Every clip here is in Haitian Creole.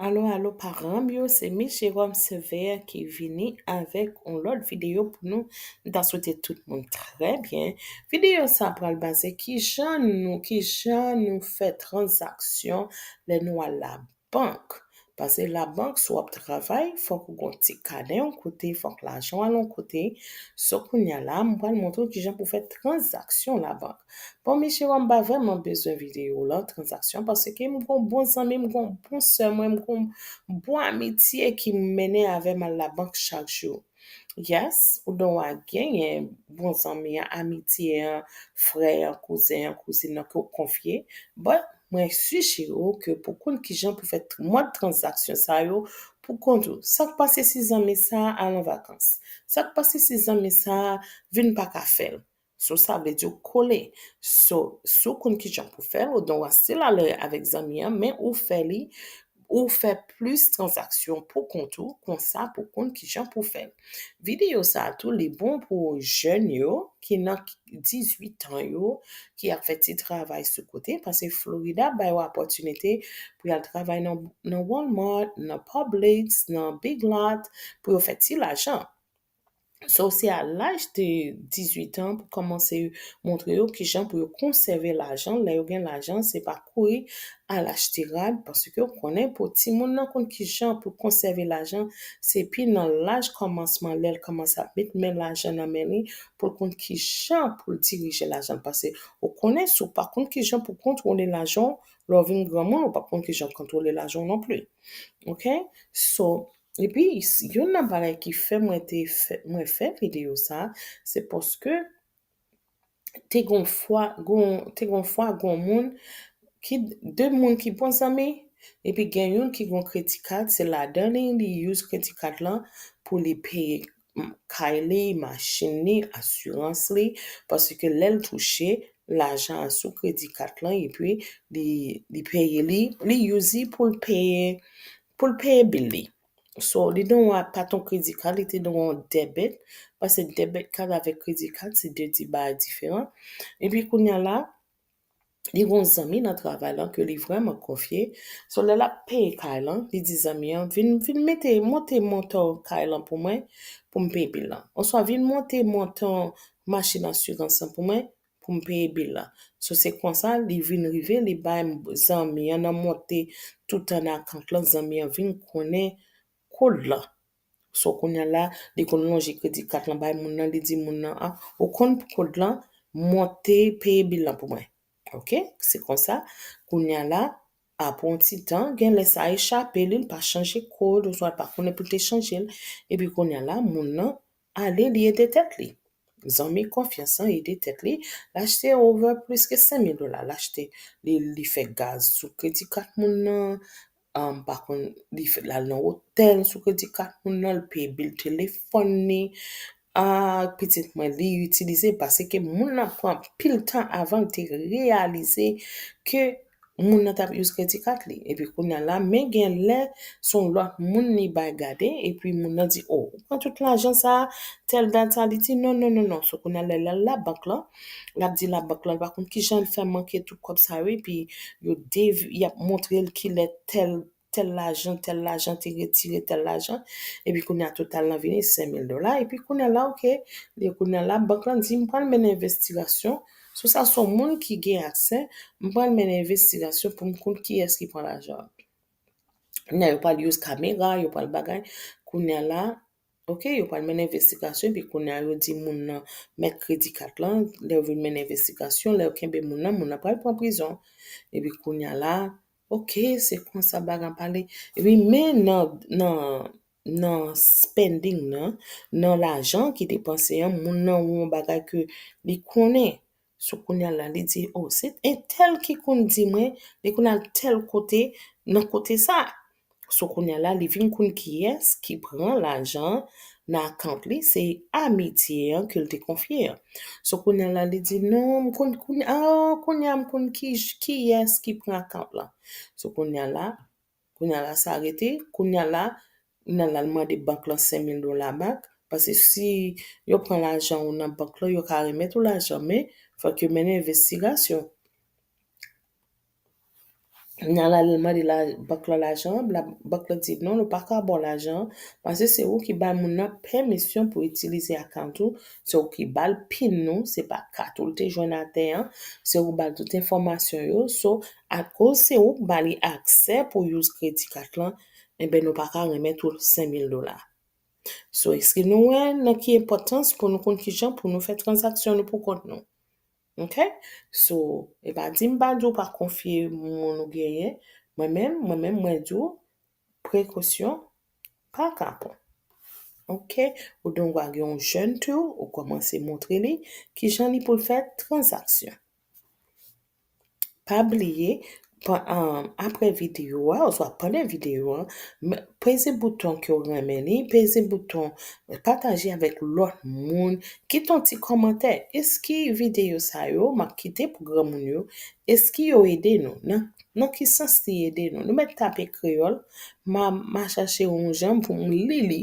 Alo alo paranm yo se miss Jerome Sévère ki vini avèk yon lòt videyo pou nou m ta swete tout moun trè byen videyo sa pral baze ki jan nou ki jan nou fè tranzaksyon lè nou al la bank pase la bank si w ap travay fòk ou gon ti kanè yon kote fòk lajan w al yon kote so kounya la m pral montre w ki jan pou fè tranzaksyon la bank Bon Michiro m pa vrèman bezwen videyo lan tranzaksyon paske m gon bon zanmi m gon bon sè mwen m gon bon amitye ki mennen avè m al labank chak jou yes ou don wa genyen bon zanmi an amitye an frè an kouzen an kouzin an ke w konfye but mwen sijere w ke pou konn kijan pou fè mòd tranzaksyon sa yo pou kont ou sa k pase si zanmi sa al an vakans sa k pase si zanmi sa vin pa ka fè l So sa vle di ou kole. So si w konn kijan pou fè l ou dwe stil alè avèk zanmi an men ou fè li ou fè plis tranzaksyon pou kont ou konsa pou konn kijan pou fè l. Videyo sa tou li bon pou jèn yo ki nan 18 tan yo ki ap fè ti travay sou kote pase Florida bay ou apòtinite pou y al travay nan Walmart, nan Publix, nan Big Lot pou yo fè ti lajan. So se a laj de 18 an pou kòmanse montre yo kijan pou yo konsève lajan, lè yo gen lajan se pa kouri al achte rad paske ou konnen pou timoun nan konn kijan pou konsève lajan se pi nan laj kòmansman lèl kòmanse ap met men lajan nan men li poul konn kijan poul dirije lajan l pase ou konnen si w pa konn kijan pou kontwole lajan w lè w vin granmoun ou pap konn kijan kontwole lajan w non pli ok so Epi youn nan bagay ki fè mwen te fè mwen fè video sa se paske te gon fwa gon te gon fwa gon moun ki de moun ki bon zanmi epi gen youn ki gon kredi kad se ladan li li use kredi kad lan pou li peye kay li, machin li, asirans li paske lèl touche lajan an sou kredi kad lan epi li li peye li li use li poul peye Pou l peye bil li. So, li dwa pat on kredi kad, li te dwa on debit, pase debit kad avèk kredi kad se 2 ti bagay diferan. Epi kounya la, li gen on zanmi nan travay lan ke li vrèman konfye. So, lè l ap peye kay lan, li di zanmi an, vin, vin mete, monte montan kay lan pou mwen, pou m peye bil lan. Oswa vin monte montan machin asirans lan pou mwen, pou m peye bil la. So se konsa li vin rive li bay zanmi an nan monte tout an akant lan zanmi an vin konnen kod lan. So kounya la li konn lonje kredi kat lan bay moun nan li di moun nan a ou konn kod lan monte peye bil lan pou mwen ok se konsa kounya la apre yon ti tan genlè sa echape li li pa chanje kod oswa li pa konnen pou l te chanje l epi kounya la moun nan Ale li ede tèt li. Zanmi konfyans lan ede tèt li, l achte over plis ke 5 mil dola, l achte, li li fè gaz sou kredi kat moun nan, um pa konn li fè l al nan otèl sou kredi kat moun nan, l peye bil telefòn li, ah pitit mwen li itilize paske moun nan pran anpil tan avan l te reyalize ke moun nan tap use kredi kat li epi kounya la men gen lè son lòt moun li bay gade epi moun nan di oh ou pran tout lajan sa tèl dat sa li di non non non non so kounya lè lal labank lan lap di labank lan pa konn kijan l fè manke tout kòb sa yo epi yo dev yap montrel kilè tèl tèl lajan tèl lajan te retire tèl lajan epi kounye a total lan vini 5000 dola epi kounye a la ok e kounye a la bank lan di m pral mennen envestigasyon sou sa se yon moun ki gen aksè m pral mennen envestigasyon pou m konn kiyès ki pran lajan an kounye a yo pral use kamera yo pral bagay kounye a la Ok yo pral mennen envestigasyon epi kounye a yo di moun nan mèt kredi kat lan, lè yo vin mennen envestigasyon, lè yo kenbe moun nan, moun nan pral pran prizon. Epi kounye a la, ok se konsa bagy an pale. Epi men nan nan nan spending nan, nan lajan ki depanse an, moun nan wè yon bagay ke li konnen. Sou kounya la li di oh se entèl ki konn di mwen li konn al tèl kote nan kote sa. Sou kounya la li vin konn kiyès ki pran lajan nan account li se Amitye an ke l te konfye an. Sou kounya la li di non m konn kounya oh kounya m konn kiyès ki pran account lan. Sou kounya la Kounya la sa rete, kounya la m nan lal mande bank lan 5000 dola bak, pase si yo pran lajan ou nan bank lan yo ka remèt ou lajan men fòk yo mennen envestigasyon. M nan lal mande bank lan lajan an, bank lan di non nou paka ba w lajan an pase se ou ki bay moun nan pèmisyon pou itilize akant ou, se ou ki ba l pin ou, se pa kat ou l te jwenn atè an, se ou ki ba l tout enfòmasyon yo, so Akoz se ou k ba li aksè pou use kredi kat lan enben nou pa ka renmèt ou 5000 dola. So eske nou wè nan ki enpòtans pou nou konn kijan pou nou fè tranzaksyon nou pou kont nou. Ok so e pa di m pa di w pa konfye moun ou genyen mwen menm mwen menm mwen di w prekosyon pa kapon. Ok ou dongwa gen yon jèn tou ou kòmanse montre li kijan li pou l fè tranzaksyon. Pa bliye apre videyo a oswa pandan videyo a peze bouton ke ou renmen li, peze bouton pataje avèk lòt moun, kite yon ti kòmantè, eske videyo sa yo map kite pou granmoun yo, eske yo ede nou? Nan ki sans li ede nou? Nou mèt tape kreyòl, ma chache yon jan poum li li.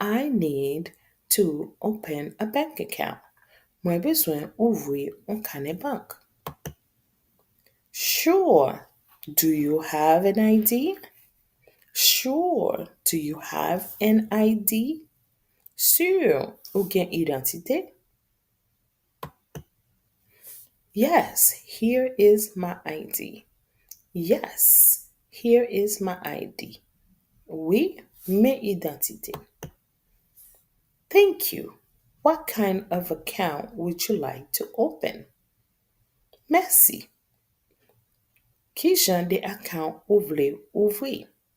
I need to open a bank account. Mwen bezwen ouvri yon kanè bank. Sure. Do you have an ID? Sure. Do you have an ID? Sur. Ou gen idantite? Yes here is my ID Yes here is my ID Wi men idantite m Thank you What kind of account would you like to open? Mèsi Ki jan de account ou vle ouvri?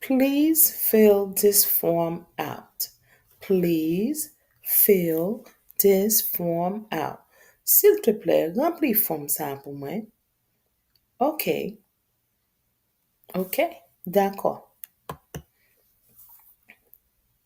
Please fill this form out Please fill this form out Silteplè, ranpli fòm sa a pou mwen Ok Ok, dakò.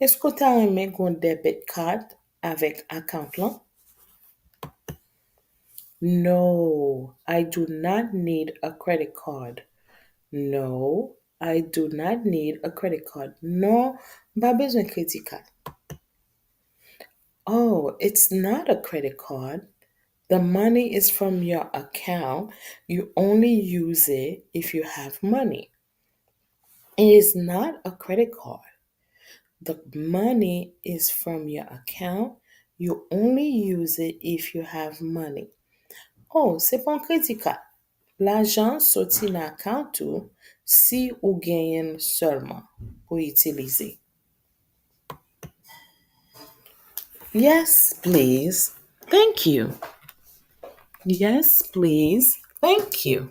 Eske ou ta renmen gen yon debit card avèk account lan? No, I do not need a credit card No, I do not need a credit card Non, m pa bezwen kredi kad Oh, it's not a credit card The money is from your account, you only use it if you have money. It is not a credit card. The money is from your account. You only use it if you have money. Oh, se pa yon kredi kad. Lajan an soti nan akant ou si ou genyen l sèlman pou itilize. Yes, please. Thank you. Yes, please. Thank you.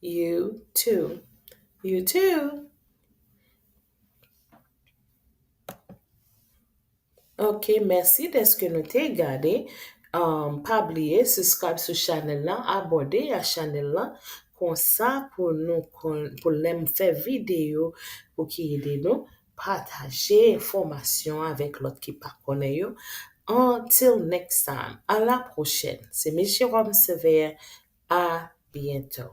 You too You too Ok mèsi dèske nou te gade Pa bliye subscribe sou chanèl la Abòne a chanèl la Konsa pou nou konn Pou lèm fè video Pou ki ede nou Pataje enfomasyon avek lot ki pa konnen yo until next time a la pwochèn se miss Jerome Sévère a bientôt.